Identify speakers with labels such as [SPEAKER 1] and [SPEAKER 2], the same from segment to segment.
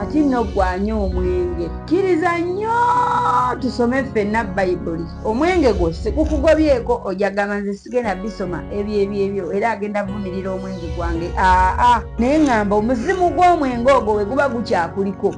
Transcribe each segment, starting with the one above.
[SPEAKER 1] kati nno gwanya omwenge kkiriza nnyo tusome ffenna bayibuli omwenge gwo sikukugobyeko ojagamba nze sigenda bisoma ebyebyebyo era agenda vumirira omwenge gwange aa naye ŋŋamba omuzimu gw'omwenge ogwo we guba gukyakuliko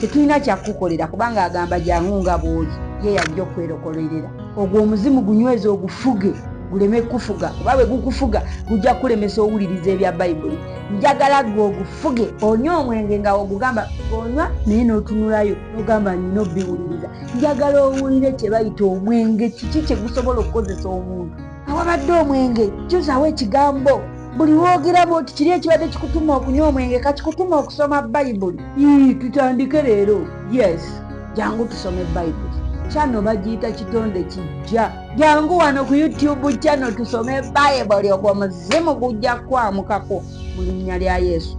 [SPEAKER 1] tetulina kyakukukolera kubanga agamba jangu nga bwoli ye yajja okwerokolerera ogwo omuzimu gunyweza ogufuge guleme kufuga kuba bwe gukufuga gujja kukulemesa owuliriza ebya bayibuli njagala gwe ogufuge onywa omwenge nga ogugamba onywa naye n'otunulayo nogamba nina obiwuliriza njagala owulire kye bayita omwenge kiki kye gusobola okukozesa omuntu awabadde omwenge juzaawo ekigambo buli wogeramu oti kiri ekibadde kikutuma okunywa omwenge kakikutuma okusoma bayibuli ii tutandike leero yes jangu tusome bayibuli kyano bagiyita kitonde kijja jangu wano ku youtube kyano tusome bayibuli ogwo muzimu gujja kwamukako mu linnya lya yesu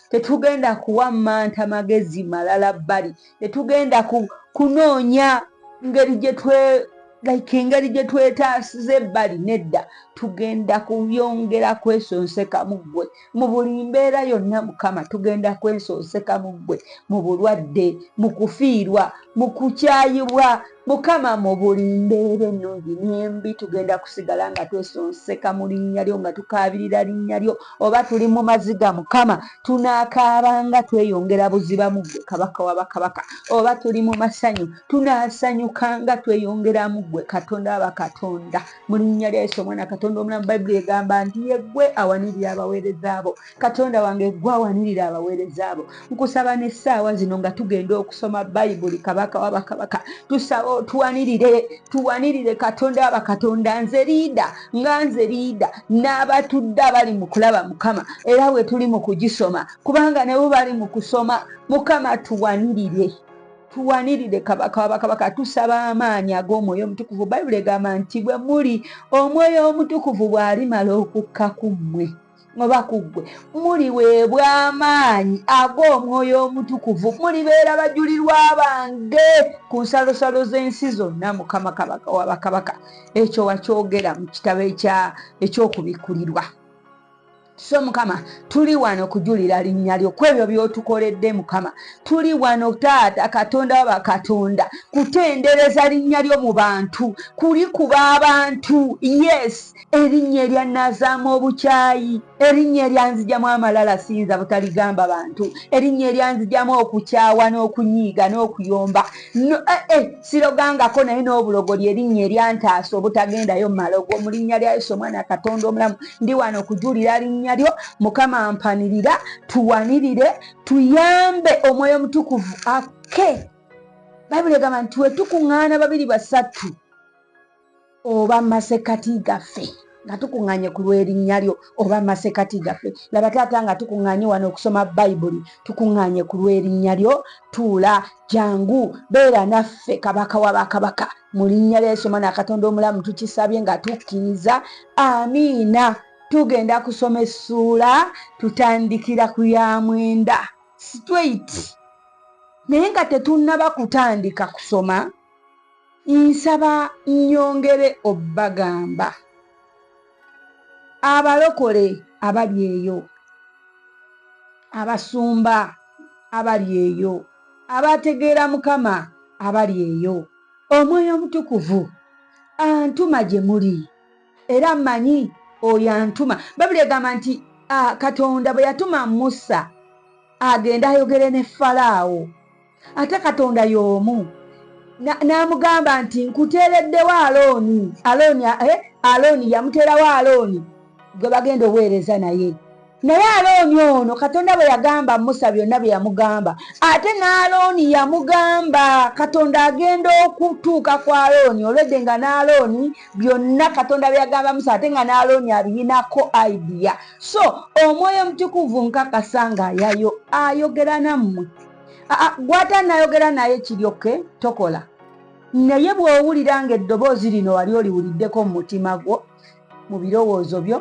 [SPEAKER 1] tetugenda kuwa manta magezi malala bbali tetugenda kunoonya ngeri gyetwe like engeri gye twetaasiza ebbali nedda tugenda kuyongera kwesonseka mu ggwe mu buli mbeera yonna mukama tugenda kwesonseka mu ggwe mu bulwadde mu kufiirwa mu kukyayibwa mukama mu buli mbeera ennungi nembi tugenda kusigala nga twesonseka mu linnya lyo nga tukaabirira linnya lyo oba tuli mu maziga mukama tunaakaabanga tweyongera buziba mu ggwe kabaka wa bakabaka oba tuli mu masanyu tunaasanyukanga tweyongera mu ggwe katonda wa bakatonda mu linnya lya yesu omwana katonda omulamu bayibuli egamba nti yeggwe awanirira abaweereza abo katonda wange gwawanirira abaweereza abo nkusaba n'essaawa zino nga tugenda okusoma bayibuli kabaka wabakabaka tusaba otuwanirire tuwanirire katonda wabakatonda nze riida nga nze riida n'abatudde abali mu kulaba mukama era bwe tuli mu kugisoma kubanga nebo bali mu kusoma mukama tuwanirire tuwanirire kabaka wabakabaka tusaba amaanyi ag'omwoyo omutukuvu bayibuli egamba nti bwe muli omwoyo omutukuvu bw'alimala okukka ku mmwe oba ku ggwe muliweebwa amaanyi ag'omwoyo omutukuvu mulibeera bajulirwa bange ku nsalosalo z'ensi zonna mukama kabaka wa bakabaka ekyo wakyogera mu kitabo eky'okubikkulirwa so mukama tuli wano kujulira linnya lyo ku ebyo by'otukoledde mukama tuli wano taata katonda wa bakatonda kutendereza linnya lyo mu bantu kulikuba abantu yes Erinnya eryannaazaamu obukyayi, erinnya eryanzijamu amalala siyinza butaligamba bantu, erinnya eryanzijamu okukyawa n'okunyiiga n'okuyomba, eh, eh, sirogangako naye n'obulogo lye erinnya eryantaasa obutagendayo mu malogo. Mu linnya lya Yesu omwana Katonda omulamu, ndi wano kujulira linnya lyo. Mukama mpanirira, tuwanirire, tuyambe omwoyo omutukuvu akke. Bayibuli egamba nti we tukuŋŋaana babiri basatu oba masekati gaffe nga tukuŋŋanye ku lw'erinnya lyo oba masekati gaffe laba taata nga tukuŋŋanye wano okusoma bayibuli tukuŋŋanye ku lw'erinnya lyo tuula jangu beera naffe kabaka wa bakabaka mu linnya lya yesu omwana katonda omulamu tukisabye nga tukkiriza amiina tugenda kusoma essuula tutandikira ku ya mwenda straight naye nga tetunnaba kutandika kusoma nsaba nnyongere obbagamba abalokole abali eyo abasumba abali eyo abategeera mukama abali eyo omwoyo omutukuvu antuma gye muli era mmanyi oyo antuma babuli egamba nti katonda bwe yatuma musa agenda ayogere ne falaawo ate katonda y'omu n'amugamba nti nkuteereddewo alooni alooni eh, alooni yamuteerawo alooni gwe bagenda oweereza naye naye alooni ono katonda bwe yagamba musa byonna bye yamugamba ate n'alooni yamugamba katonda agenda okutuuka ku alooni olwedde nga n'alooni byonna katonda bye yagamba musa ate nga n'alooni abiyinako idea so omwoyo omutukuvu nkakasa ngaayayo ayogera nammwe gwata nayogera naye kiryoke tokola naye bw'owulira nga eddoboozi lino wali oliwuliddeko mu mutima gwo mu birowoozo byo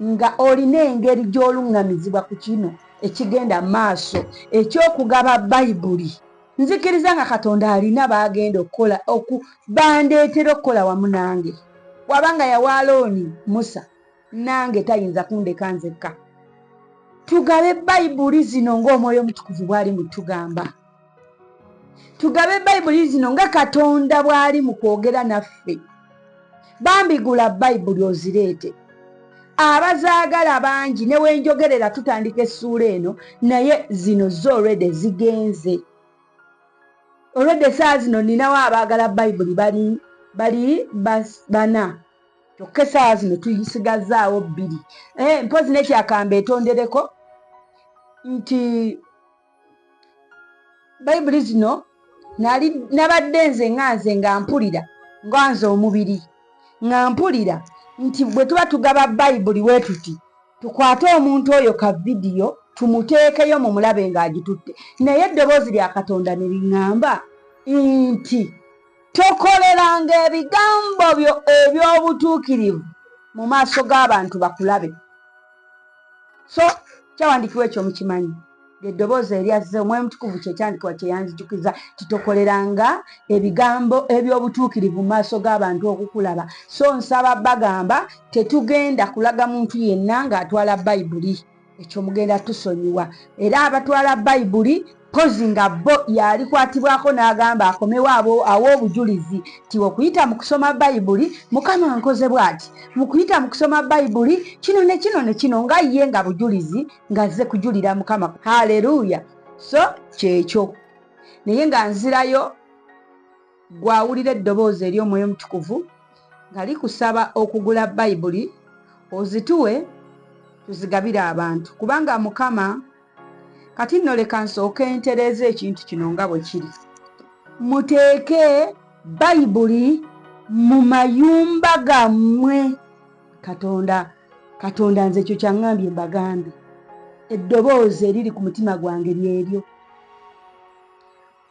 [SPEAKER 1] nga olina engeri gy'oluŋŋamizibwa ku kino ekigenda maaso eky'okugaba bayibuli nzikiriza nga katonda alina baagenda okukola oku bandeetera okukola wamu nange bw'aba nga yawa alooni musa nange tayinza kundeka nzekka tugabe bayibuli zino ng'omwoyo omutukuvu bwali mutugamba tugabe bayibuli zino nga katonda bwali mu kwogera naffe bambigula bayibuli ozireete abazaagala bangi newenjogerera tutandika essuula eno naye zino zo olwede zigenze olwedde saa zino ninawo abaagala bayibuli bali bali bana kyokka esaawa zino tuyisigazzaawo bbiri eh, mpozi nekyakamba etondereko nti bayibuli zino nabadde nze nga nze nga mpulira nga nze omubiri nga mpulira nti bwe tuba tugaba bayibuli we tuti tukwate omuntu oyo ka vidiyo tumuteekeyo mu mulabe ng'agitutte naye eddoboozi lya katonda ne liŋŋamba nti Tokoleranga ebigambo byo eby'obutuukirivu mu maaso g'abantu bakulabe. So kyawandikiwa ekyo mukimanyi eddoboozi eryazze omwoyo mutukuvu kyekyandikibwa kyeyanzijukiza titokoleranga ebigambo eby'obutuukirivu mu maaso g'abantu okukulaba so nsaba bagamba tetugenda kulaga muntu yenna ng'atwala bayibuli ekyo mugenda tusonyiwa era abatwala bayibuli pozi nga bo yalikwatibwako n'agamba akomewo abo awo obujulizi ti okuyita mu kusoma bayibuli mukama nkoze bwati mu kuyita mu kusoma bayibuli kino ne kino ne kino nga ye nga bujulizi ng'azze kujulira mukama haleluya so kyekyo naye nga nzirayo Ggwe awulira eddoboozi ery'Omwoyo Omutukuvu nga likusaba okugula Bayibuli ozituwe tuzigabire abantu, kubanga Mukama. Kati nno leka nsooke ntereeze ekintu kino nga bwe kiri. Muteeke Bayibuli mu mayumba gammwe. Katonda, Katonda nze ekyo kyaŋŋambye mbagambye. Eddoboozi eriri ku mutima gwange lyeryo.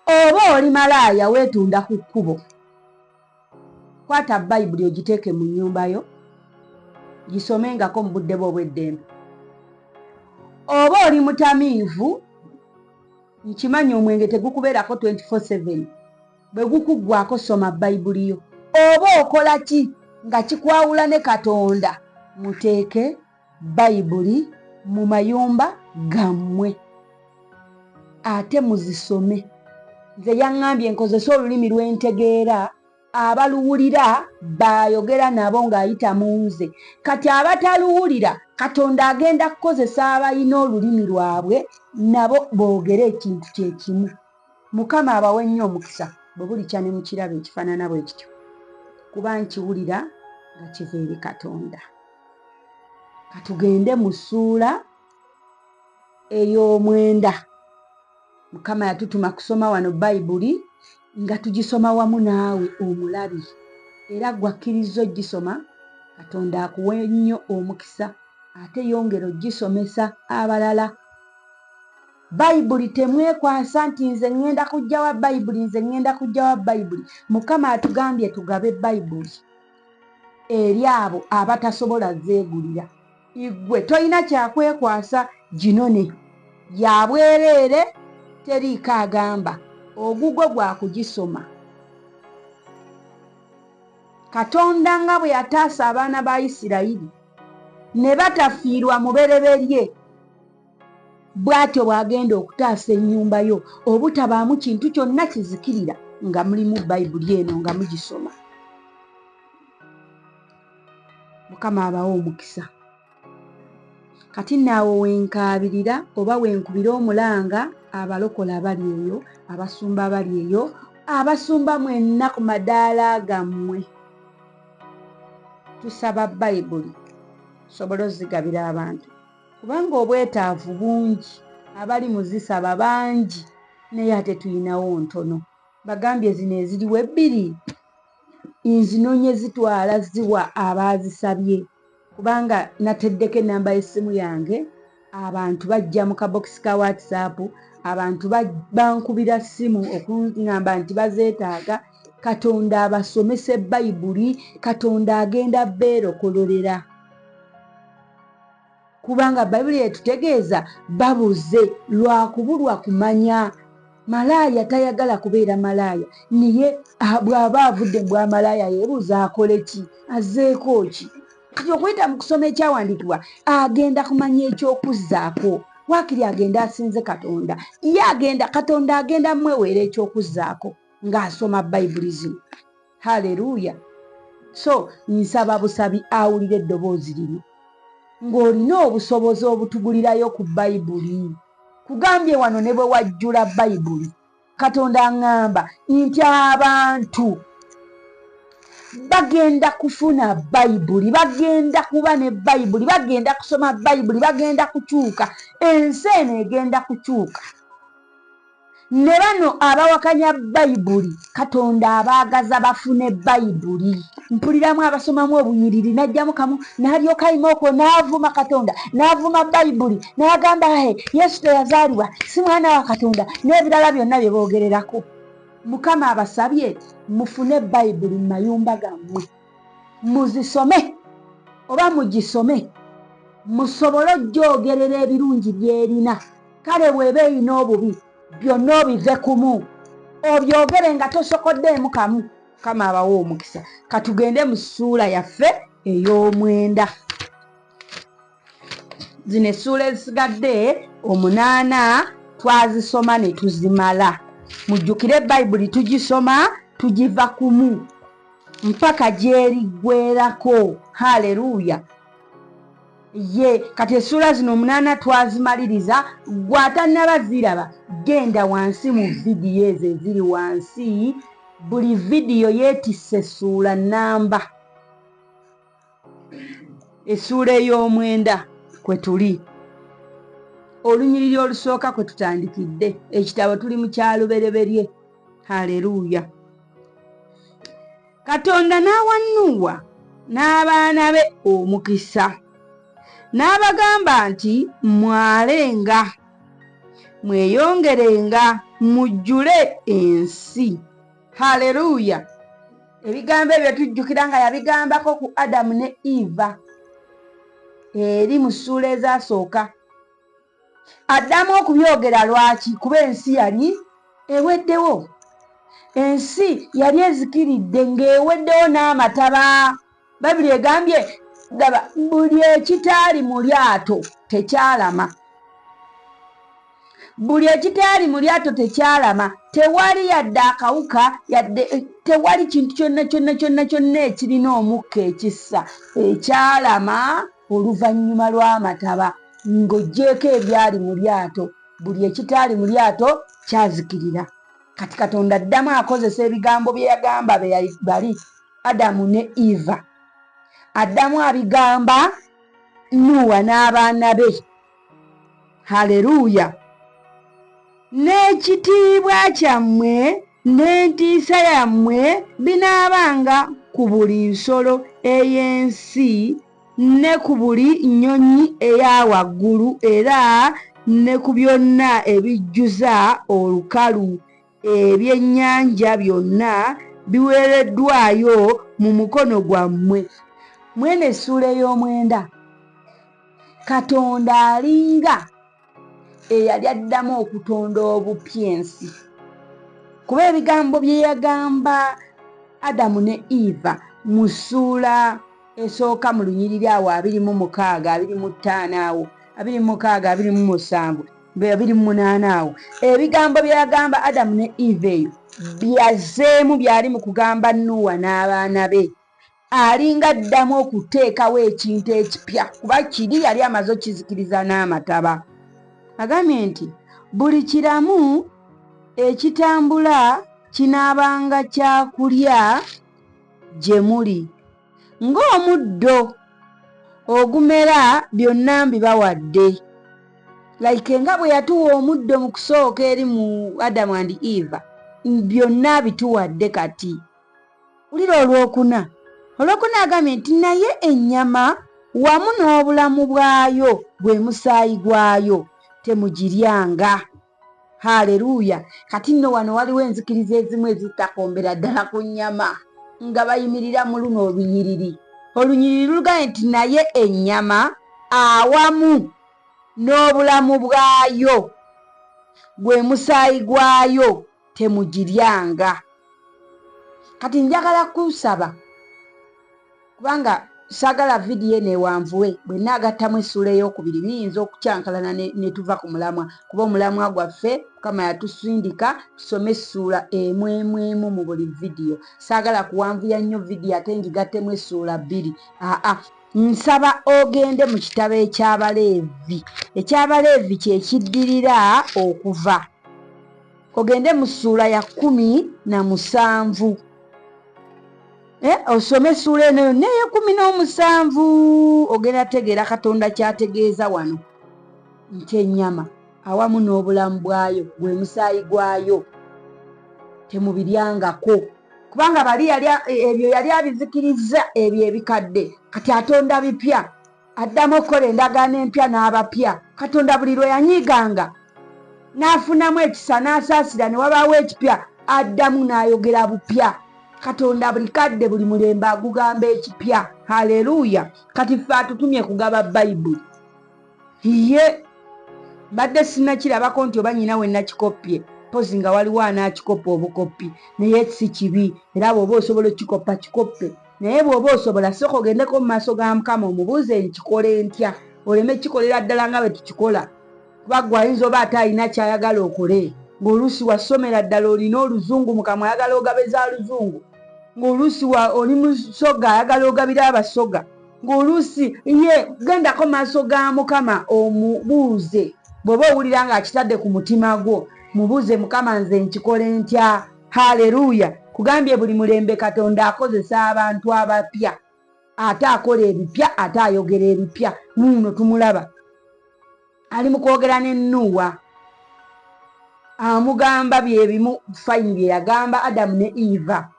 [SPEAKER 1] oba oli malaaya weetunda ku kkubo kwata bayibuli ogiteeke mu nnyumba yo gisomengako mu budde bwe obw'eddembe oba oli mutamiivu nkimanyi omwenge tegukubeerako 247 bwe gukuggwako soma bayibuli yo oba okola ki nga kikwawula ne katonda muteeke bayibuli mu mayumba gammwe ate muzisome nze yaŋŋambye nkozese olulimi lw'entegeera abaluwulira baayogera nabo ng'ayita mu nze kati abataluwulira katonda agenda kukozesa abalina olulimi lwabwe nabo boogere ekintu kye kimu Mukama abawe nnyo omukisa bwe bulikya ne mu kirabo ekifaanana bwe kityo, kuba nkiwulira nga kiva eri Katonda. Ka tugende mu ssuula ey'omwenda. Mukama yatutuma kusoma wano Bayibuli nga tugisoma wamu naawe omulabi, era ggwakkirizza ogisoma. Katonda akuwe nnyo omukisa ate yongera ogisomesa abalala. Bayibuli temwekwasa nti nze ŋŋenda kujja wa Bayibuli, nze ŋŋenda kujja wa Bayibuli. Mukama atugambye tugabe Bayibuli eri abo abatasobola zeegulira. Iggwe tolina kya kwekwasa ginone. Ya bwereere, teriiko agamba. Ogugwo gwa kugisoma. Katonda nga bwe yataasa abaana ba Isirayiri ne batafiirwa mubereberye, bw'atyo bw'agenda okutaasa ennyumba yo obutabaamu kintu kyonna kizikirira nga mulimu bayibuli eno nga mugisoma mukama abawo omukisa kati naawo wenkaabirira oba wenkubira omulanga abalokola abali eyo abasumba abali eyo abasumba mwenna ku madaala gammwe tusaba bayibuli sobola ozigabira abantu kubanga obwetaavu bungi abali mu zisaba bangi naye ate tulinawo ntono bagambye zino eziriwo ebbiri nzinonye zitwala ziwa abaazisabye kubanga nateddeko enamba y'essimu yange abantu bajja mu kabokisi ka whatsapp abantu bankubira ssimu okuŋamba nti bazeetaaga katonda abasomese bayibuli katonda agenda beerokololera kubanga bayibuli yetutegeeza babuze lwakubulwa kumanya malaaya tayagala kubeera malaaya naye ah, bw'aba avudde bwamalaaya yebuuza akole ki azeeko ki kati okuyita mu kusoma ekyawandiikibwa agenda kumanya ekyokuzzaako wakiri agenda asinze katonda ye agenda katonda agenda mweweera ekyokuzzaako ng'asoma bayibuli zino haleluya so nsaba busabi awulira eddoboozi lino ng'olina obusobozi obutugulirayo ku bayibuli kugambye wano ne bwe wajjula bayibuli katonda aŋŋamba nti abantu bagenda kufuna bayibuli bagenda kuba ne bayibuli bagenda kusoma bayibuli bagenda kukyuka ensi eno egenda kukyuka Ne bano abawakanya Bayibuli Katonda abaagaza bafune Bayibuli. Mpuliramu abasomamu obunyiriri n'aggyamu kamu n'alyoka ayima okwo n'avuma Katonda n'avuma Bayibuli n'agamba he Yesu teyazaalibwa si mwana wa Katonda n'ebirala byonna bye boogererako. Mukama abasabye mufune Bayibuli mu mayumba gammwe. muzisome oba mugisome musobole okugyogerera ebirungi byerina kale bweba erina obubi byonna obive kumu obyogere nga tosokoddeemu kamu kama abawa omukisa katugende mu ssuula yaffe ey'omwenda zino essuula ezisigadde omunaana twazisoma ne tuzimala mujjukire bayibuli tugisoma tugiva kumu mpaka gyeriggwerako haleluya ye kati essuula zino omunaana twazimaliriza gwatannaba ziraba genda wansi mu vidiyo ezo eziri wansi buli vidiyo yeetisse essuula nnamba essuula ey'omwenda kwe tuli olunyiriri olusooka kwe tutandikidde ekitabo tuli mu kyalubereberye haleluuya katonda n'awa nuuwa n'abaana be omukisa n'abagamba nti mwalenga mweyongerenga mujjule ensi haleluya ebigambo ebyo tujjukira nga yabigambako ku adamu ne eva eri mu ssuula ezasooka addamu okubyogera lwaki kuba ensi yali eweddewo ensi yali ezikiridde ng'eweddewo n'amataba bayibuli egambye daba buli ekitaali mu lyato tekyalama buli ekitaali mu lyato tekyalama tewali yadde akawuka yadde eh, tewali kintu kyonna kyonna kyonna kyonna ekirina omukka ekissa ekyalama oluvannyuma lw'amataba ng'oggyeeko ebyali mu lyato buli ekitaali mu lyato kyazikirira kati katonda addamu akozesa ebigambo bye yagamba bali adamu ne eva addamu abigamba nuwa n'abaana be haleluya n'ekitiibwa kyammwe n'entiisa yammwe binaabanga ku buli nsolo ey'ensi ne ku buli nnyonyi eya waggulu era ne ku byonna ebijjuza olukalu Ebyennyanja byonna biweereddwayo mu mukono gwammwe. Mw'eno essuula ey'omwenda, Katonda alinga eyali addamu okutonda obupya ensi, kuba ebigambo bye yagamba Adamu ne Eva mu ssuula esooka mu lunyiriri awo abiri mu mukaaga, abiri mu ttaano awo, abiri mu mukaaga, abiri mu musanvu, nga yabiri mu munaana awo ebigambo bye yagamba adamu ne eva eyo byazeemu byali mu kugamba nuuwa n'abaana be alinga addamu okuteekawo ekintu ekipya kuba kiri yali amaze okukizikiriza n'amataba agambye nti buli kiramu ekitambula kinaabanga kyakulya gye muli ng'omuddo ogumera byonna mbibawadde like nga bwe yatuwa omuddo mu kusooka eri mu adamu and eva byonna bituwadde kati wulira olwokuna olwokuna agambye nti naye ennyama wamu n'obulamu bwayo gwe musaayi gwayo temugiryanga haleluya kati nno wano waliwo enzikiriza ezimu ezitakombera ddala ku nnyama nga bayimirira mu luno olunyiriri olunyiriri lulugambye nti naye ennyama awamu n'obulamu bwayo gwe musaayi gwayo temugiryanga kati njagala kusaba kubanga sagala vidiyo eno ewanvuwe bwe naagattamu essuula eyokubiri niyinza okukyankalana ne tuva ku mulamwa kuba omulamwa gwaffe mukama yatusindika tusome essuula emu emu emu mu buli vidiyo saagala kuwanvuya nnyo vidiyo ate ngigattemu essuula bbiri aa nsaba ogende mu kitabo eky'abaleevi eky'abaleevi kye kiddirira okuva ogende mu ssuula ya kkumi na musanvu eh, osome essuula eno yonna ey'ekkumi n'omusanvu ogenda tegeera katonda kyategeeza wano nti ennyama awamu n'obulamu bwayo gwe musaayi gwayo temubiryangako kubanga bali ebyo yali abizikirizza ebyo ebikadde kati atonda bipya addamu okukola endagaano empya n'abapya katonda buli lwe yanyiiganga n'afunamu ekisa n'asaasira ne wabaawo ekipya addamu n'ayogera bupya katonda buli kadde buli mulembe agugamba ekipya haleluya kati ffe atutumye kugaba bayibuli ye mbadde sinakirabako nti oba nyina we nakikoppye mpozi nga waliwo anaakikoppa obukoppi naye si kibi era bw'oba osobola okukikoppa kikoppe Naye bw'oba osobola, sooka ogendeko mu maaso ga Mukama omubuuze nkikole ntya, oleme kikolera ddala nga bwe tukikola, kuba gwe ayinza oba ate alina ky'ayagala okole ng'oluusi wasomera ddala, olina oluzungu, Mukama ayagala ogabe za luzungu, ng'oluusi oli musoga ayagala ogabira abasoga, ng'oluusi ye gendako maaso ga Mukama omubuuze bw'oba owulira ng'akitadde ku mutima gwo, mubuuze Mukama nze nkikole ntya? haleluya kugambye buli mulembe katonda akozesa abantu abapya ate akola ebipya ate ayogera ebipya nuuno tumulaba ali mukwogera ne nuuwa amugamba byebimu fayini byeyagamba adamu ne eva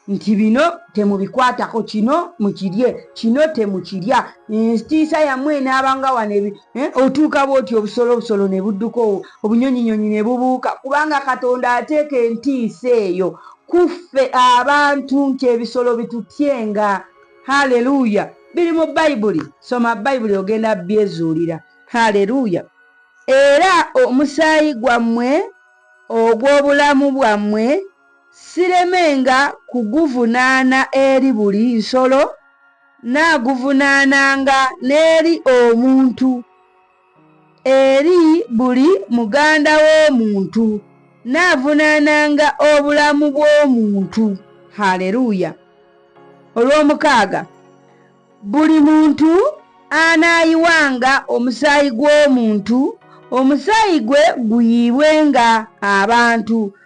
[SPEAKER 1] nti bino temubikwatako kino mukirye kino temukirya entiisa yamwe enaabanga wano Eh, otuuka bwoti obusolo obusolo ne budduka obunyonyinyonyi ne bubuuka kubanga katonda ateeka entiisa eyo kuffe abantu nti ebisolo bitutyenga haleluya biri mu bayibuli soma bayibuli ogenda byezuulira haleluya era omusaayi gwammwe ogw'obulamu bwammwe siremenga kuguvunaana eri buli nsolo Nnaaguvunaananga n'eri omuntu, eri buli muganda w'omuntu, nnaavunaananga obulamu bw'omuntu. Haleluya! Olw'omukaaga, buli muntu anaayiwanga omusaayi gw'omuntu, omusaayi gwe guyiibwenga abantu.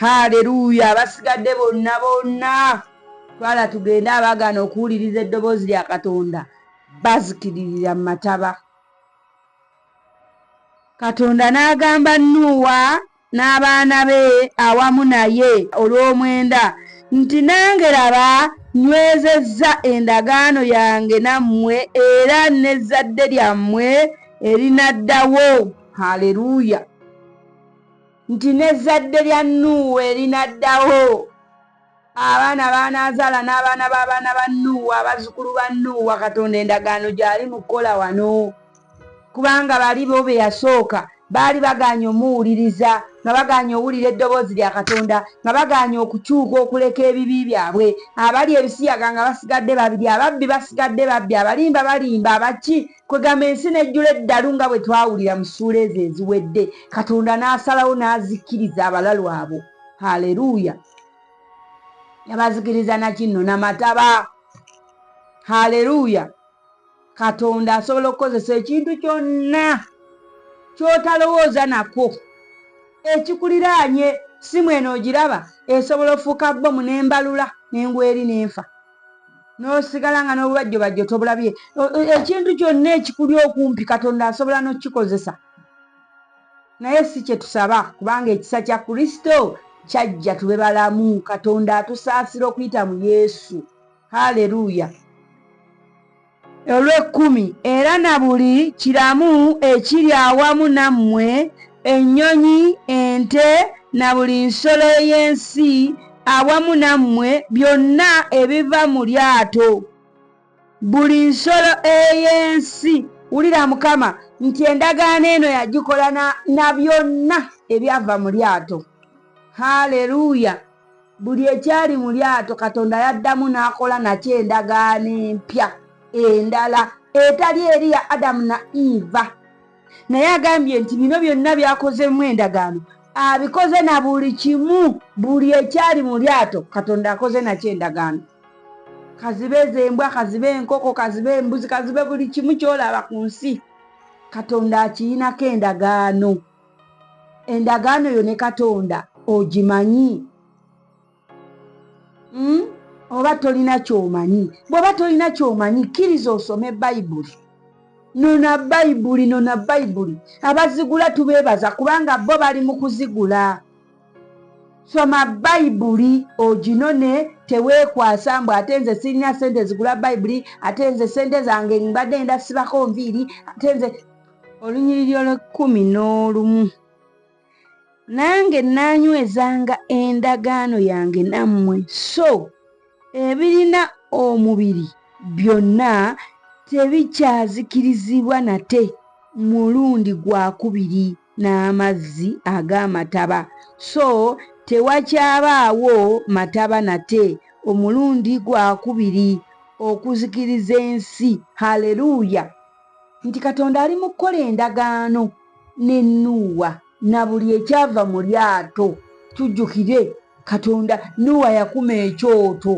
[SPEAKER 1] haleluya abasigadde bonna bonna twala tugende abagaana okuwuliriza eddoboozi lya katonda bazikiririra mu mataba katonda n'agamba nuuwa n'abaana be awamu naye olw'omwenda nti nange laba nywezezza endagaano yange nammwe era n'ezzadde lyammwe erinaddawo haleluya nti n'ezzadde lya nuuwa erinaddawo abaana baanaazaala n'abaana b'abaana ba nuuwa abazzukulu ba nuuwa katonda endagaano gyali mu kukola wano kubanga bali bo be yasooka baali bagaanye omuwuliriza nga bagaanye owulira eddoboozi lya katonda nga bagaanye okukyuka okuleka ebibi byabwe abali ebisiyaga nga basigadde babiri ababbi basigadde babbi abalimba balimba abaki Kwegamba ensi nejjula eddalu nga bwe twawulira mu ssuula ezo eziwedde, Katonda n'asalawo n'azikiriza abalalu abo. Haleruuya! Yabazikiriza na kinno na mataba. Haleruuya! Katonda asobola okukozesa ekintu kyonna ky'otalowooza nakwo. Ekikuliraanye, ssimu eno ogiraba? Esobola okufuuka bbomu n'embalula ne ngwa eri ne nfa. nosigala nga n'obubajjobajjo tobulabye ekintu kyonna ekikuli okumpi katonda asobola n'okukikozesa naye si kye tusaba kubanga ekisa kya kristo kyajja tube balamu katonda atusaasira okuyita mu yesu haleluya olw'ekkumi era na buli kiramu ekiri awamu nammwe, ennyonyi, ente, na buli nsolo ey'ensi awamu nammwe, byonna ebiva mu lyato, buli nsolo ey'ensi. Wulira Mukama nti endagaano eno yagikola na byonna ebyava mu lyato. Haleruya! Buli ekyali mu lyato Katonda yaddamu n'akola nakyo endagaano empya endala etali eri ya Adamu na Eva. Naye agambye nti bino byonna byakozemu endagaano abikoze na buli kimu, buli ekyali mu lyato Katonda akoze nakyo endagaano. Kazibe z'embwa, kazibe enkoko, kazibe embuzi, kazibe buli kimu ky'olaba ku nsi Katonda akirinako endagaano. endagaano yo ne katonda ogimanyi hmm? oba tolina kyomanyi bweoba tolina kyomanyi kkiriza osome bayibuli nona bayibuli nona bayibuli abazigula tubeebaza kubanga bo bali mu kuzigula soma bayibuli oginone teweekwasa mbu ate nze sirina sente zigula bayibuli ate nze sente zange mbadde enda sibako nviiri ate nze olunyiriri olw'ekkumi n'olumu nange naanywezanga endagaano yange nammwe so ebirina omubiri byonna tebikyazikirizibwa nate mulundi gwakubiri n'amazzi ag'amataba so tewakyabaawo mataba nate omulundi gwakubiri okuzikiriza ensi haleluuya nti katonda ali mu kukola endagaano ne nuuwa na buli ekyava mu lyato tujjukire katonda nuuwa yakuma ekyoto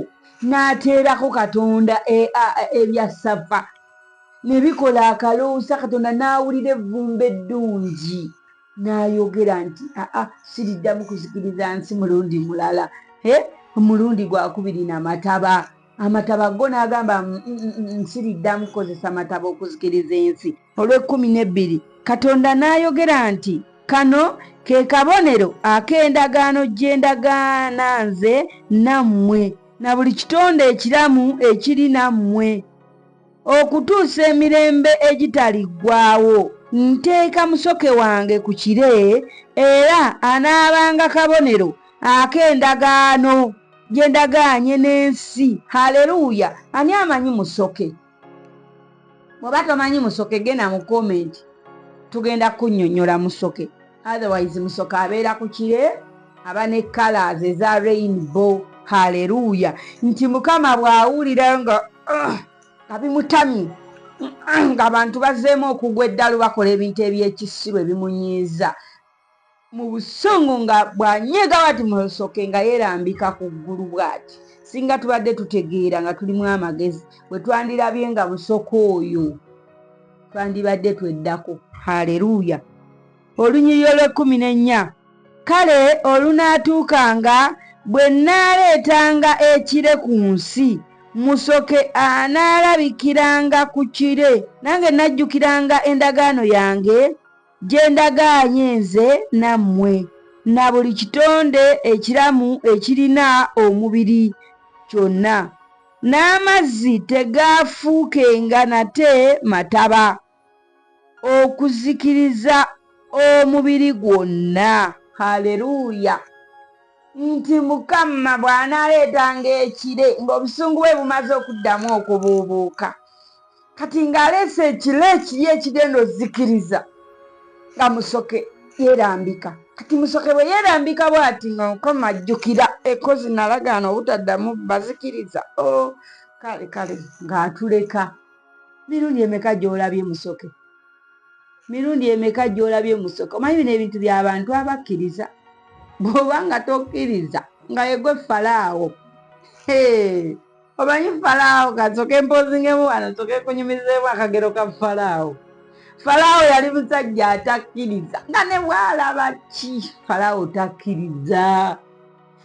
[SPEAKER 1] n'ateerako katonda e, ebya sava ne bikola akaloosa katonda n'awulira evvumba eddungi n'ayogera nti aa siriddamu kuzikiriza nsi mulundi mulala omulundi gwakubiri namataba amataba go n'agamba nsiriddamu kukozesa mataba okuzikiriza ensi olw'ekkumi n'ebbiri katonda n'ayogera nti kano ke kabonero ak'endagaano gye ndagaana nze nammwe na buli kitonde ekiramu ekiri nammwe okutuusa emirembe egitaliggwaawo nteeka musoke wange ku kire era anaabanga kabonero ak'endagaano gye ndagaanye n'ensi haleluya ani amanyi musoke bw'oba tomanyi musoke genda mu komenti tugenda kunyonyola musoke otherwise musoke abeera ku kire aba ne colors eza rainbow haleluya nti mukama bw'awulira nga ah, nga bimutamye ng'abantu bazeemu okugwa eddalu bakola ebintu eby'ekisiru ebimunyiiza mu busungu nga bw'anyiiga bw'ati musoke nga yeerambika ku ggulu bw'ati singa tubadde tutegeera nga tulimu amagezi bwe twandirabye nga musoke oyo twandibadde tweddako haleluya olunyiriro lw'ekkumi n'ennya kale olunaatuukanga bwe nnaaleetanga ekire ku nsi musoke anaalabikiranga ku kire nange najjukiranga endagaano yange gye ndagaanye nze nammwe na buli kitonde ekiramu ekirina omubiri kyonna, n'amazzi tegaafuukenga nate mataba okuzikiriza omubiri gwonna. Haleluya! Nti Mukama bw'anaaleetanga ekire ng'obusungu bwe bumaze okuddamu okubuubuuka. kati ng'aleese ekiro ekiri ekigenda ozikiriza nga musoke yeerambika kati musoke bwe yeerambika bwati nga mukama ajjukira ekozi nalagaana obutaddamu bazikiriza o oh, kale kale ng'atuleka mirundi emeka gy'olabye musoke mirundi emeka gy'olabye musoke omanyi bino ebintu by'abantu abakkiriza bw'oba nga tokkiriza nga yegwe falaawo hee omanyi falaawo kasoka empozingemu wano soka ekunyumizeemu akagero ka falaawo falaawo yali musajja atakkiriza nga ne bwalaba ki falaawo takkiriza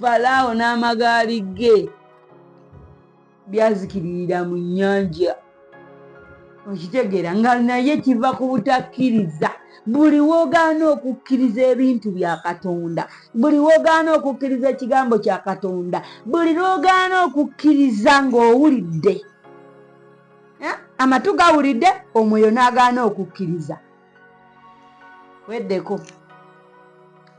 [SPEAKER 1] falaawo n'amagaali ge byazikiririra mu nnyanja okitegeera nga naye kiva ku butakkiriza buli wogaana okukkiriza ebintu bya katonda buli wogaana okukkiriza ekigambo kya katonda buli lwogaana okukkiriza ng'owulidde eh? amatu gawulidde omwoyo n'agaana okukkiriza weddeko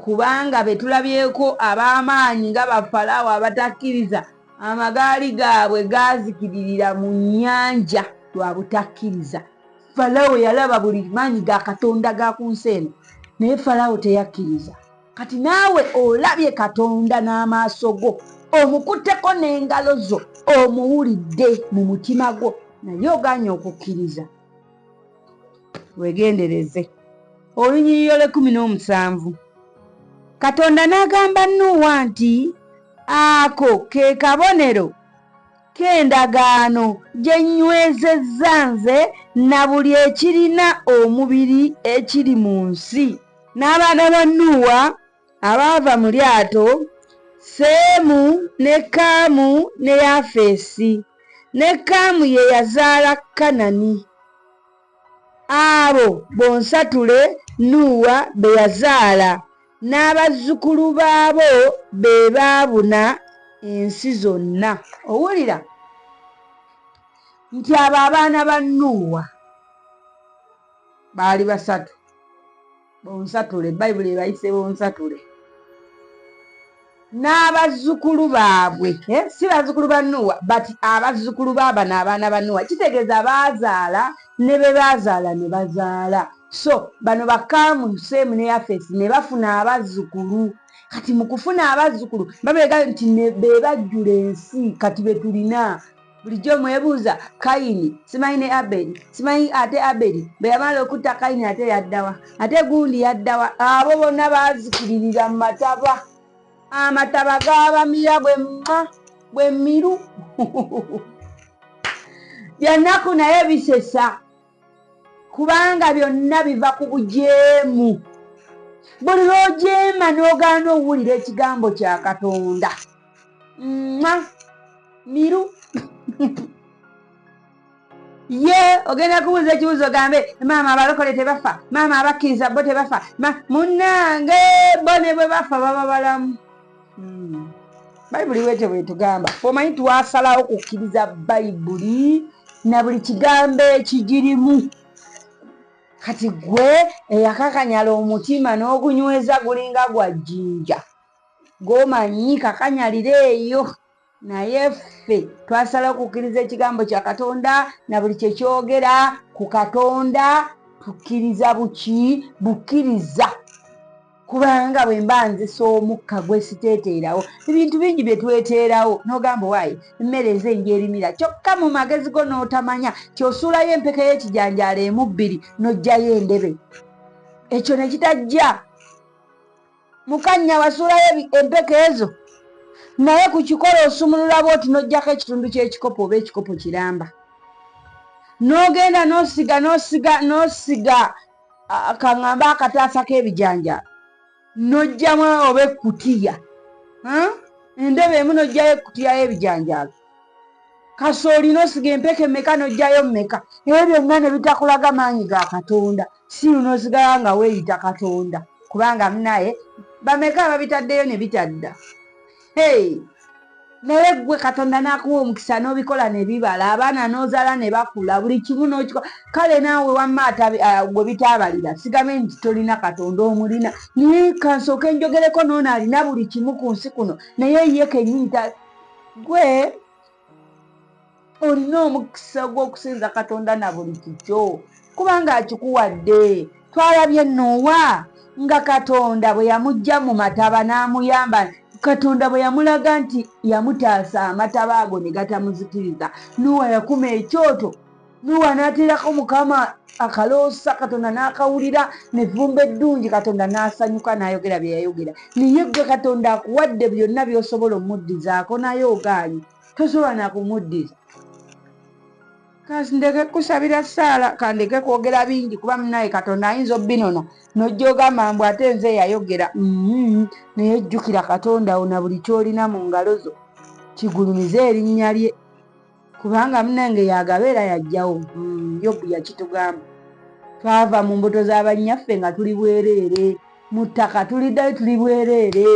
[SPEAKER 1] kubanga be tulabyeko ab'amaanyi nga bafalaawo abatakkiriza amagaali gaabwe gaazikiririra mu nnyanja lwa butakkiriza falawo yalaba buli maanyi ga katonda ga ku nsi eno naye falawo teyakkiriza kati naawe olabye katonda n'amaaso go omukutteko n'engalo zo omuwulidde mu mutima gwo naye ogaanye okukkiriza wegendereze olunyiriro lwekumi n'omusanvu katonda n'agamba nuuwa nti ako ke kabonero k'endagaano gye nnywezezza nze na buli ekirina omubiri ekiri mu nsi n'abaana ba nuuwa abaava mu lyato, Seemu, ne Kaamu, ne Yafeesi. Ne Kaamu ye yazaala Kanani. Abo bonsatule Nuuwa be yazaala, n'abazzukulu baabo be baabuna ensi zonna. Owulira? Nti abo abaana ba Nuuwa baali basatu. bonsatule bayibuli ebayise bonsatule n'abazzukulu baabwe eh, si bazzukulu ba nuwa but abazzukulu baabano abaana ba nuwa kitegeeza baazaala ne be baazaala ne bazaala so bano bakaamu seemu ne yafesi ne bafuna abazzukulu kati mu kufuna abazzukulu babeega nti be bajjula ensi kati be tulina bulijjo mwebuuza kayini simanyi ne aberi simanyi ate aberi bwe yamala okutta kayini ate yaddawa ate gundi yaddawa abo bonna bazikiririra mu mataba amataba gabamira bwe mma bwe miru byannaku naye bisesa kubanga byonna biva ku bujeemu buli lwojeema n'ogaana owulira ekigambo kya katonda ma miru ye ogenda kubuuza ekibuuzo gambe maama abalokole tebafa maama abakkiriza bo tebafa munange bo ne bwe bafa baba balamu hmm. bayibuli wete bwetugamba omanyi twasalawo kukkiriza bayibuli na buli kigambo ekigirimu kati gwe eyakakanyala omutima n'ogunyweza gulinga gwa jjinja gwomanyi kakanyalira eyo naye ffe twasalawo okukkiriza ekigambo kya katonda na buli kye kyogera ku katonda tukkiriza buki bukkiriza kubanga bwe mba nzisa omukka gwe siteeteerawo ebintu bingi bye tweteerawo n'ogamba waayi emmere nze njerimira kyokka mu magezi go n'otamanya kyosuulayo empeke y'ekijanjaalo emu bbiri n'oggyayo endebe ekyo ne kitajja Mukanya wasuulayo empeke ezo naye ku kikolo osumulula bwoti n'oggyako ekitundu ky'ekikopo oba ekikopo kiramba n'ogenda n'osiga n'osiga n'osiga kaŋamba akataasa k'ebijanja n'oggyamu oba ekkutiya endobo emu n'oggyayo ekkutiya y'ebijanjaalo kasooli n'osiga empeke meka n'oggyayo meka ebyo byonna ne bitakulaga maanyi ga katonda siru nosigala nga weyita katonda kubanga munaye bameka ababitaddeyo ne bitadda hey naye gwe katonda nakuwa omukisa nobikola nebibala abaana nozala ne bakula buli kimu nokikola kale naawe wamma ah, gwe bitaabalira sigambe nti tolina katonda omulina naye kansooka enjogereko noona alina buli kimu ku nsi kuno naye ye kenyini gwe olina omukisa gw'okusinza katonda na buli kikyo kubanga akikuwadde twalabye nuuwa nga katonda bwe yamujja mu mataba n'amuyamba katonda bwe yamulaga nti yamutaasa amataba ago ne gatamuzikiriza nuuwa yakuma ekyoto nuwa anateerako mukama akaloosa katonda n'akawulira nevumba eddungi katonda n'asanyuka n'ayogera bye yayogera naye gwe katonda akuwadde byonna by'osobola omuddizaako naye ogaanyi tosobola nakumuddiza kandeke kusabira saala kandeke kwogera bingi kuba munaye katonda ayinza obinona nojja ogamba mbu ate nze eyayogera mm-hmm. naye jjukira katonda wo na buli kyolina mu ngalo zo kigulumize erinnya lye kubanga munange yagaba era yajjawo mm, yobu yakitugamba twava mu mbuto z'abannyaffe nga tuli bwereere mu ttaka tuliddayo tuli bwereere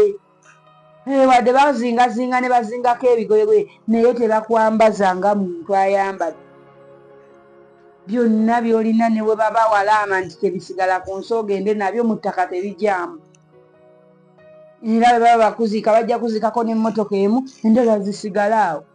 [SPEAKER 1] eh, wadde bazingazinga ne bazingako ebigoye bwe naye tebakwambaza nga muntu ayambadde byonna byolina ne bwe baba walaama nti tebisigala ku nsi ogende nabyo mu ttaka tebijaamu era bwe baba bakuziika bajja kuziikako n'emmotoka emu endala zisigale awo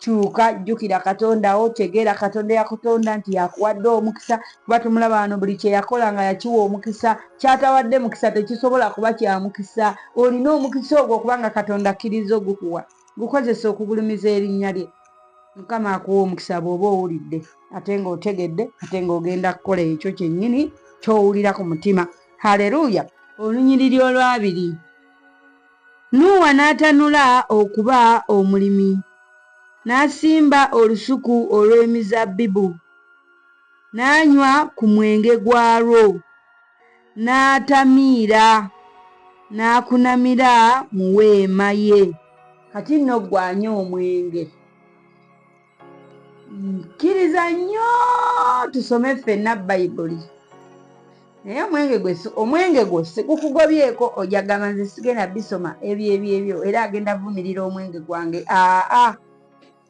[SPEAKER 1] Kyuka, jjukira Katonda wo, tegeera Katonda eyakutonda nti y'akuwadde omukisa, kuba tumulaba wano, buli kye yakola nga yakiwa omukisa. Ky'atawadde mukisa tekisobola kuba kya mukisa. Olina omukisa ogwo kubanga Katonda akkirizza okugukuwa. Gukozese okugulumiza erinnya lye. Mukama akuwe omukisa bw'oba owulidde ate ng'otegedde ate ng'ogenda kukola ekyo kyennyini ky'owulira ku mutima. Haleruya! Olunyiriri olwabiri. Nuuwa n'atanula okuba omulimi, n'asimba olusuku olw'emizabbibu, n'anywa ku mwenge gwalwo, n'atamiira, n'akunamira mu weema ye. Kati nno ggwe anywa omwenge. kkiriza nnyo tusome ffenna bayibuli naye omwenge gwe omwenge gwo sikukugobyeko ojagamba nze sigenda bisoma ebyo ebyo ebyo era agenda vumirira omwenge gwange aa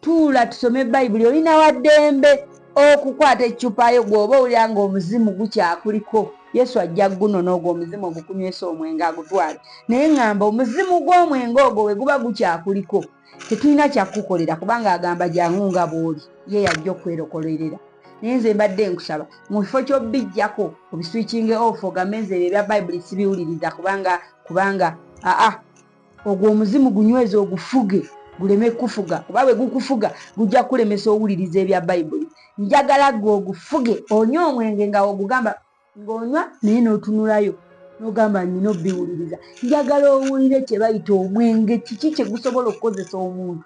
[SPEAKER 1] tuula tusome bayibuli olina waddembe okukwata eccupayo gwoba owulira nga omuzimu gukyakuliko yesu ajja guno n'ogwo omuzimu ogukunywesa omwenge agutwale naye ŋŋamba omuzimu gw'omwenge ogwo we guba gukyakuliko tetulina kyakukukolera kubanga agamba jangu nga bwoli ye yajja okwerokolerera naye nze mbadde nkusaba mu kifo kyobijjako obiswikinge off ogambe nze ebyo ebya bayibuli sibiwuliriza kubanga kubanga aa ogwo omuzimu gunyweza ogufuge guleme kukufuga kuba bwe gukufuga gujja kukulemesa owuliriza ebya bayibuli njagala gwe ogufuge onywa omwenge nga ogugamba ng'onywa naye n'otunulayo n'ogamba nina obiwuliriza njagala owulire kye bayita omwenge kiki kye gusobola okukozesa omuntu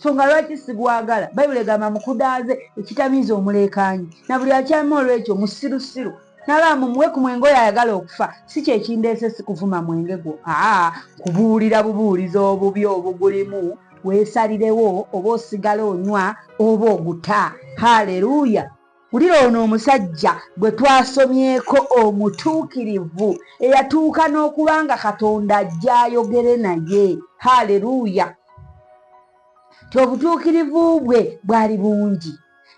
[SPEAKER 1] songa lwaki sigwagala bayibuli egamba mukudaaze ekitamiiza omuleekaanyi na buli akyama olw'ekyo musirusiru nalaba mumuwe ku mwenge oyo ayagala okufa si kyekindeese si kuvuma mwenge gwo aa kubuulira bubuuliza obubi obugulimu weesalirewo oba osigala onywa oba oguta haleluya Wulira ono omusajja gwe twasomyeko omutuukirivu eyatuuka n'okuba nga Katonda ajja ayogere naye. Haleluya! Ti obutuukirivu bwe bwali bungi.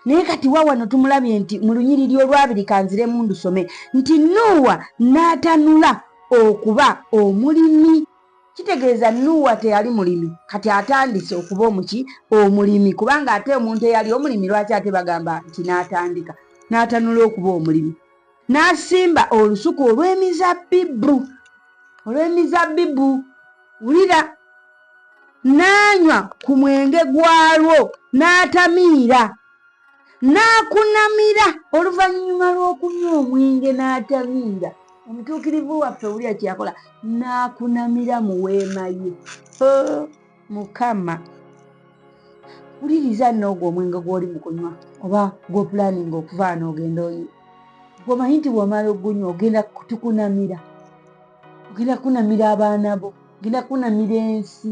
[SPEAKER 1] Naye kati wa wano tumulabye nti mu lunyiriri olwabiri kanziremu ndusome nti Nuuwa n'atanula okuba omulimi. Kitegeeza Nuuwa teyali mulimi, kati atandise okuba omuki? Omulimi. Kubanga ate omuntu eyali omulimi lwaki ate bagamba nti n'atandika n'atanula okuba omulimi? N'asimba olusuku olw'emizabbibu, olw'emizabbibu, wulira, n'anywa ku mwenge gwalwo, n'atamiira. n'akunamira oluvannyuma lw'okunywa omwenge n'atamiira omutuukirivu waffe owulira kyeyakola n'akunamira mu weema ye oh, mukama wuliriza noogwo omwenge gw'oli mu kunywa oba gw'opulaninga okuvaana ogenda oyi gwomanyi nti bwomala ogunywa ogenda tukunamira ogenda kunamira abaana bo ogenda kunamira ensi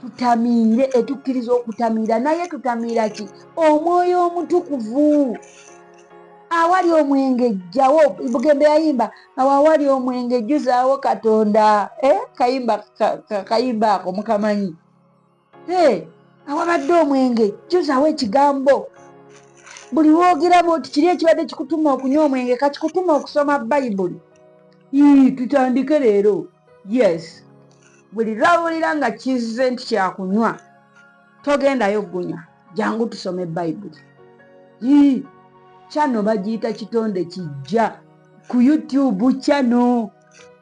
[SPEAKER 1] tutamiire etukkiriza okutamiira naye tutamiira ki omwoyo omutukuvu awali omwenge jjawo bugembe yayimba awo awali omwenge jjuzaawo katonda eh, kayimba kayimba ako mukamanyi eh, awabadde omwenge jjuzaawo ekigambo buli woogeramu nti kiri ekibadde kikutuma okunywa omwenge kakikutuma okusoma bayibuli tutandike leero yes buli lwawulira nga kizze nti kyakunywa togendayo gunya jangu tusome bayibuli ii kyano bagiyita kitonde kijja ku youtube kyano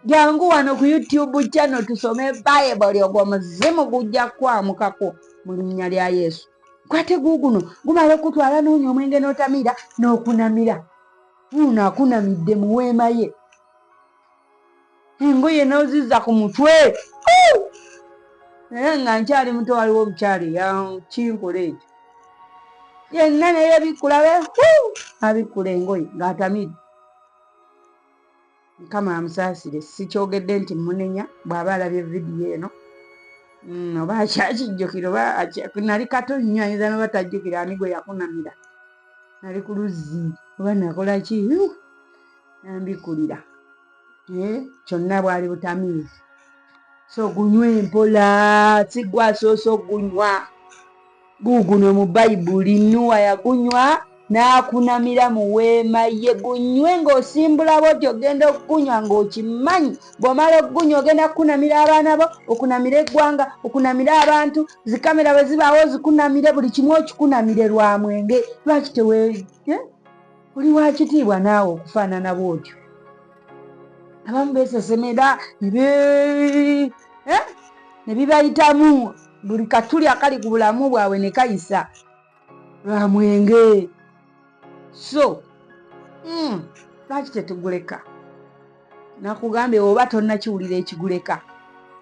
[SPEAKER 1] jangu wano ku youtube kyano tusome bayibuli ogwo muzimu gujja kwamukako mu linnya lya yesu kwate guuguno gumala okutwala noonya omwenge n'otamira n'okunamira uno akunamidde mu weema ye engoye noziza ku mutwe naye nga nkyali muto waliwo omukyali yakinkula ekyo yenna naye bikkula be abikkula engoye ng'atamidde mukama amusaasire sikyogedde nti munenya bw'aba alabye vidiyo eno mm, oba akyakijjukira oba nali kato nnyo ayinza noba tajjukira ani gwe yakunamira nali ku luzzi oba nakolaki nambikulira eh, kyonna bwali butamiizi so gunywa empola sigwa asoose okugunywa guguno mu bayibuli nuwa yagunywa n'akunamira mu weema ye gunywe ng'osimbula bwoti ogenda okugunywa ng'okimanyi bw'omala okugunywa ogenda kukunamira abaana bo okunamira eggwanga okunamira abantu zikamera bwe zibaawo zikunamire buli kimu okikunamire lwa mwenge lwaki tewe eh? oli wakitiibwa naawe okufaanana bwotyo abamu besesemera eh? ne bibayitamu buli katuli akali ku bulamu bwabwe ne kayisa lwa mwenge so hmm, lwaki tetuguleka nakugambye oba tonnakiwulira ekiguleka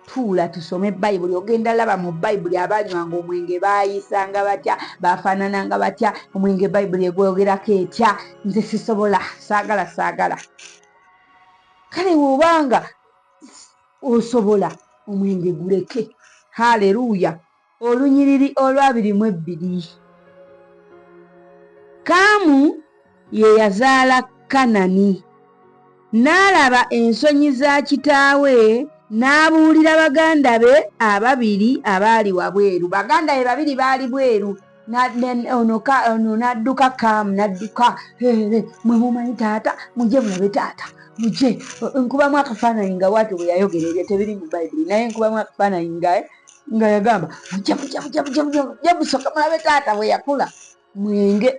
[SPEAKER 1] tuula tusome bayibuli ogenda laba mu bayibuli abanywanga omwenge baayisanga batya baafaanananga batya omwenge bayibuli egwogerako etya nze sisobola saagala saagala kale wobanga osobola omwenge guleke haleluya Olunyiriri olwabiri mu ebbiri. Kaamu ye yazaala Kanani. N'alaba ensonyi za kitaawe n'abuulira baganda be ababiri abaali wabweru. Baganda be babiri baali bweru. Ono n'adduka Kaamu n'adduka, heere, mwe mumanyi taata, mujje mulabe taata, mujje. Nkubamu akafaananyi nga bw'atyo bwe yayogera ebyo tebiri mu Bayibuli naye nkubamu akafaananyi nga. nga yagamba jabusokamulabe taata bweyakula mwenge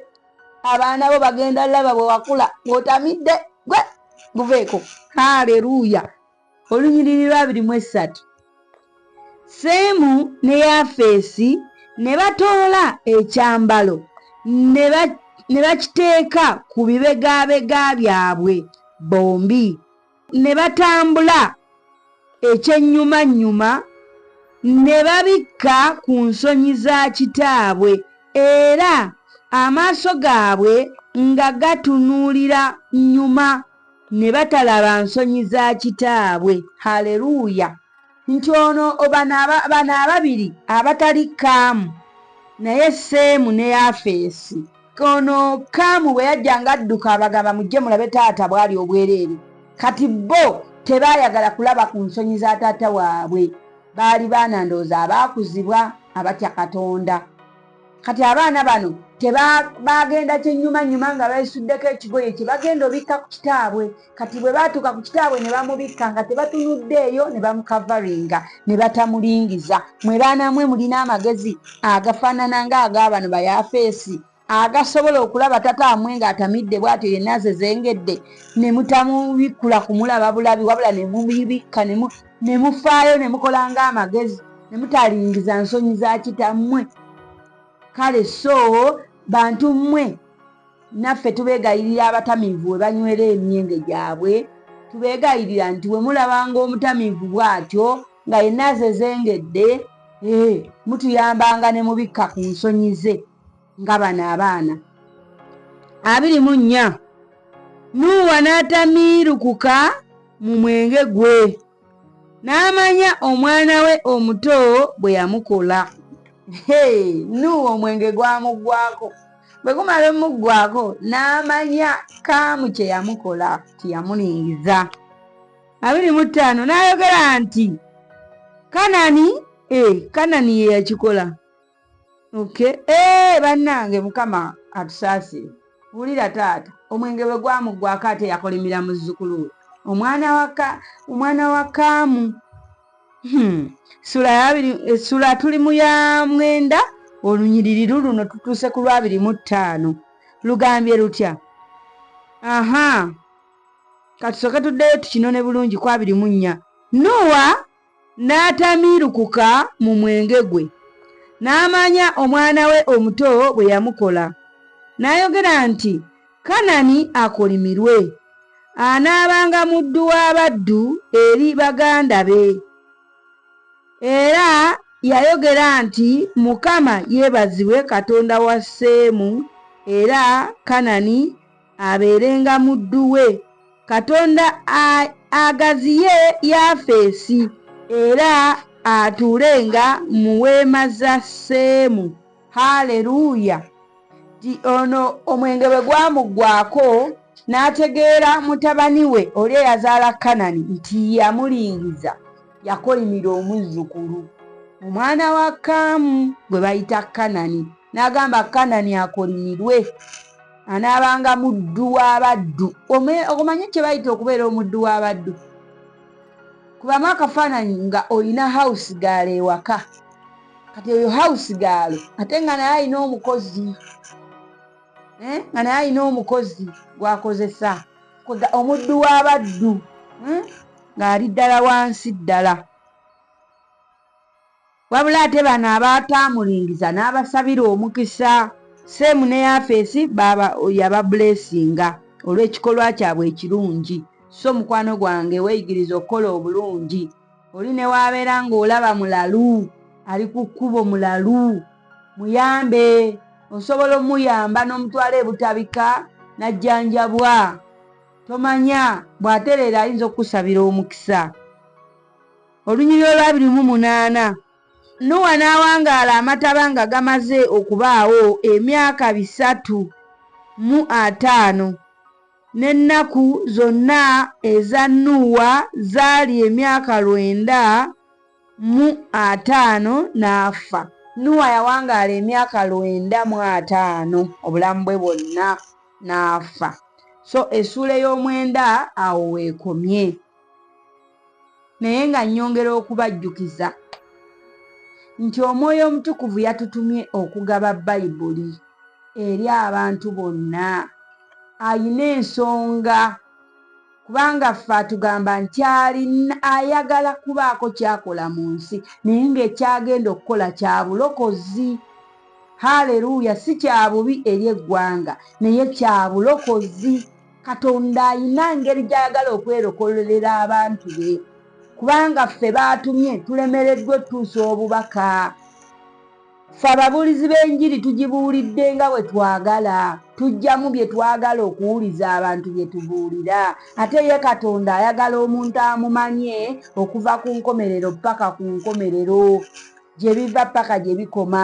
[SPEAKER 1] abaana bo bagenda laba bwewakula bwotamidde gwe guveeko haleluya olunyiriri lwabiri mu essatu seemu ne yafeesi ne batoola ekyambalo ne bakiteeka ku bibegabega byabwe bombi ne batambula ekyennyumannyuma ne babikka ku nsonyi za kitaabwe era amaaso gaabwe nga gatunuulira nnyuma ne batalaba nsonyi za kitaabwe. Haleluya! nti ono bano ababiri abatali kaamu naye seemu ne yafeesi ono kaamu bwe yajja nga adduka abagamba mujje mulabe taata bwali obwereere kati bo tebaayagala kulaba ku nsonyi za taata waabwe baali baana ndowooza abaakuzibwa abatya katonda kati abaana bano tebagenda kyenyumanyuma nga besuddeko ekigoye kyebagenda obikka ku kitaabwe kati bwe batuuka ku kitaabwe ne bamubikka nga tebatunuddeeyo ne bamukavaringa ne batamulingiza mwe baana mwe mulina amagezi agafaanana nga agaabano bayafeesi agasobola okulaba tata amwe ng'atamidde bwatyo yenna zezengedde ne mutamubikkula kumulaba bulabi wabula ne mubibikka ne mufaayo ne mukola ng'amagezi ne mutaalingiza nsonyi za kitammwe kale so bantu mmwe naffe tubeegayirira abatamiivu we banywera emyenge gyabwe tubeegayirira nti we mulabanga omutamiivu bw'atyo nga yenna azezengedde ee eh, mutuyambanga ne mubikka ku nsonyi ze nga bano abaana abiri mu nnya nuuwa n'atamiirukuka mu mwenge gwe n'amanya omwana we omuto bwe yamukola nuuwa omwenge gwamugwako bwe gumala omuggwako n'amanya kaamu kye yamukola tiyamulingiza abiri mu ttaano n'ayogera nti kanani e kanani ye yakikola okay. Hey, eh, bannange mukama atusaasire wulira taata omwenge bwe gwamuggwako ate yakolimira muzzukulu we omwana waka omwana wa kaamu hmm. sula yabiri esula eh, tuli mu ya mwenda olunyiriri luluno tutuuse ku lwabiri mu ttaano lugambye lutya aha katusooke tuddeyo tukinone bulungi ku abiri mu nnya nuwa n'atamiirukuka mu mwenge gwe n'amanya omwana we omuto bwe yamukola n'ayogera nti kanani akolimirwe anaabanga muddu w'abaddu eri baganda be era yayogera nti mukama yeebazibwe katonda wa seemu era kanani abeerenga muddu we katonda agaziye yafeesi era atuulenga mu weema za seemu haleluya ti ono omwenge bwe gwamuggwako n'ategeera mutabani we oli eyazaala kanani nti yamulingiza yakolimira omuzzukulu omwana wa kaamu gwe bayita kanani n'agamba kanani akolimirwe anaabanga muddu w'abaddu okumanya kye bayita okubeera omuddu w'abaddu kubamu akafaananyi nga olina hawusi gaalo ewaka kati oyo hawusi gaalo ate nga naye alina omukozi eh, nga naye alina omukozi gwakozesa omuddu w'abaddu eh, ng'ali ddala wansi ddala Wabula ate bano abaataamulingiza n'abasabira omukisa, Seemu ne Yafeesi yababuleesinga olw'ekikolwa kyabwe ekirungi. So mukwano gwange weeyigirize okukola obulungi. Oli ne w'abeera ng'olaba mulalu, ali ku kkubo mulalu, muyambe. Osobola omuyamba n'omutwala e Butabika n'ajjanjabwa. Tomanya bw'atereera ayinza okukusabira omukisa. Olunyiriri olw'abiri mu munaana. Nuwa n'awangaala amataba nga gamaze okubaawo emyaka bisatu mu ataano, n'ennaku zonna eza Nuwa zaali emyaka lwenda mu ataano, n'afa. Nuwa yawangaala emyaka lwenda mu ataano obulamu bwe bwonna, n'afa. So essuula ey'omwenda awo w'ekomye. naye nga nnyongera okubajjukiza nti omwoyo omutukuvu yatutumye okugaba bayibuli eri abantu bonna ayina ensonga kubanga ffe atugamba nti alina ayagala kubaako kyakola mu nsi naye ng'ekyagenda okukola kya bulokozi haleluya si kya bubi eri eggwanga naye kya bulokozi katonda ayina ngeri gyayagala okwerokololera abantu be kubanga ffe baatumye tulemereddwa otuusa obubaka fe ababuulizi b'enjiri tugibuulidde nga bwe twagala tujjamu bye twagala okuwuliza abantu bye tubuulira ate ye katonda ayagala omuntu amumanye okuva ku nkomerero paka ku nkomerero gye biva paka gye bikoma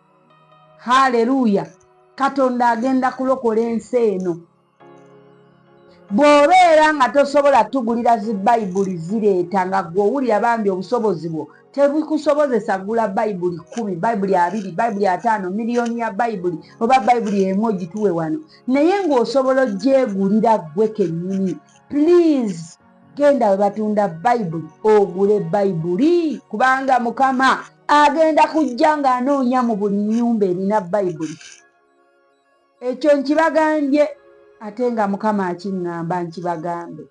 [SPEAKER 1] haleluya katonda agenda kulokola ensi eno bw'obeera nga tosobola tugulira zi bayibuli zireeta nga gwe owulira bambi obusobozi bwo tebikusobozesa gula bayibuli kumi bayibuli abiri bayibuli ataano miliyoni ya bayibuli oba bayibuli emu ogituwe wano naye ng'osobola ogyegulira gwe kennyini please genda we batunda bayibuli ogule bayibuli kubanga mukama agenda kujja ng'anoonya mu buli nnyumba erina bayibuli ekyo nkibagambye ate nga mukama akiŋŋamba nkibagambe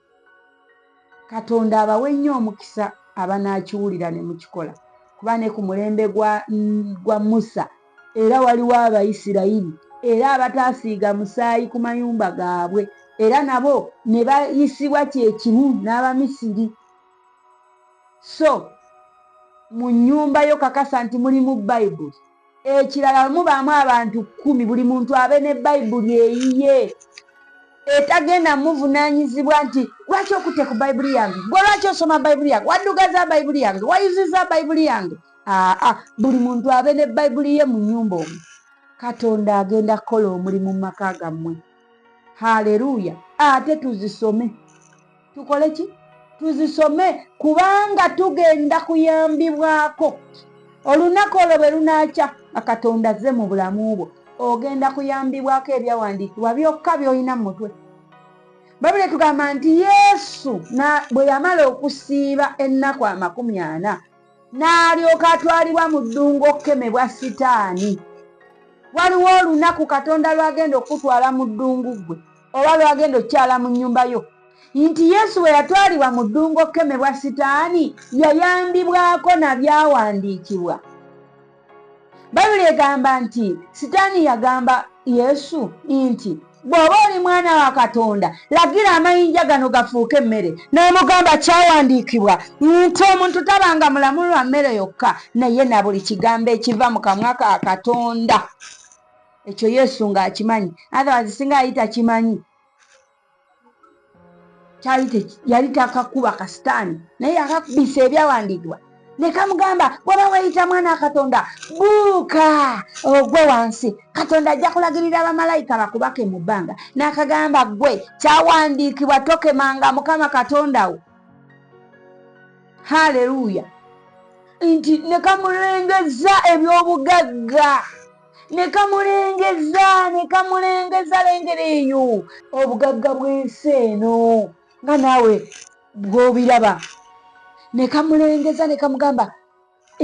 [SPEAKER 1] katonda abawe nnyo omukisa abanaakiwulira ne mukikola kuba ne ku mulembe gwa, gwa musa Era waliwo Abayisirayiri era abataasiiga musaayi ku mayumba gaabwe, era nabo ne bayisibwa kye kimu n'Abamisiri. So mu nnyumba yo kakasa nti mulimu Bayibuli. Ekirala bwe mubaamu abantu kkumi, buli muntu abe ne Bayibuli eyiye etagenda mmuvunaanyizibwa nti, Lwaki okutte ku Bayibuli yange? Ggwe lwaki osoma Bayibuli yange? Waddugaza Bayibuli yange? Wayuzizza Bayibuli yange? aa buli muntu abe ne bayibuli ye mu nyumba omu katonda agenda kukola omulimu mu maka gammwe haleluya ate tuzisome tukole ki tuzisome kubanga tugenda kuyambibwako olunaku olwo bwe lunakya akatonda azze mu bulamu bwo ogenda kuyambibwako ebyawandiikibwa byokka byolina mu mutwe babuli etugamba nti yesu bwe yamala okusiiba ennaku amakumi ana n'alyoka atwalibwa mu ddungu okukemebwa sitaani waliwo olunaku katonda lwagenda okukutwala mu ddungu ggwe oba lwagenda okukyala mu nnyumba yo nti yesu bwe yatwalibwa mu ddungu okukemebwa sitaani yayambibwako na byawandiikibwa bayibuli egamba nti sitaani yagamba yesu nti bw'oba oli mwana wa katonda lagira amayinja gano gafuuke emmere n'amugamba kyawandiikibwa nti omuntu tabanga mulamu lwa mmere yokka naye na buli kigambo ekiva mu kamwa ka katonda ekyo yesu ng'akimanyi atherwise singa ayita kimanyi kyali yali takakuba kasitaani naye yakakubisa ebyawandiikibwa nekamugamba bwaba weyita mwana katonda buuka ogwe wansi katonda ajja kulagirira bamalayika bakubake mu bbanga nakagamba gwe kyawandiikibwa tokemanga mukama katonda wo haleluya nti nekamulengeza ebyobugagga ne kamulengeza ne kamulengeza lengera eyo obugagga bw'ensi eno nga naawe bw'obiraba ne kamulengeza ne kamugamba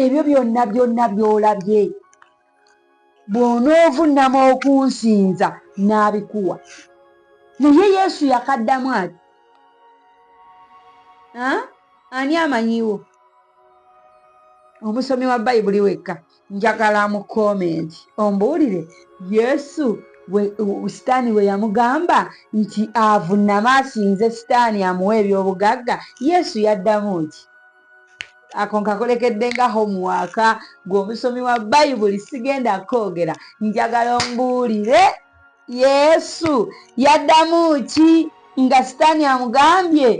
[SPEAKER 1] ebyo byonna byonna by'olabye bw'onoovunnama okunsinza n'abikuwa naye yesu yakaddamu ati ani amanyiwo omusomi wa bayibuli wekka njagala mu comment ombuulire yesu sitaani we yamugamba nti avunnama asinze sitaani amuwa ebyobugagga yesu yaddamu ki ako nkakolekedde nga homuwaaka gweomusomi wa bayibuli sigenda koogera njagala ombuulire Yesu yaddamu ki nga Sitaani amugambye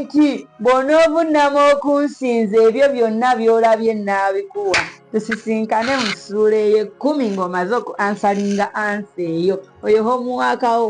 [SPEAKER 1] nti bw'onoovunnama okunsinza ebyo byonna by'olabye nnaabikuwa? Tusisinkane mu ssuula ey'ekkumi ng'omaze oku ansalinga ansa eyo oyo homuwaakawo.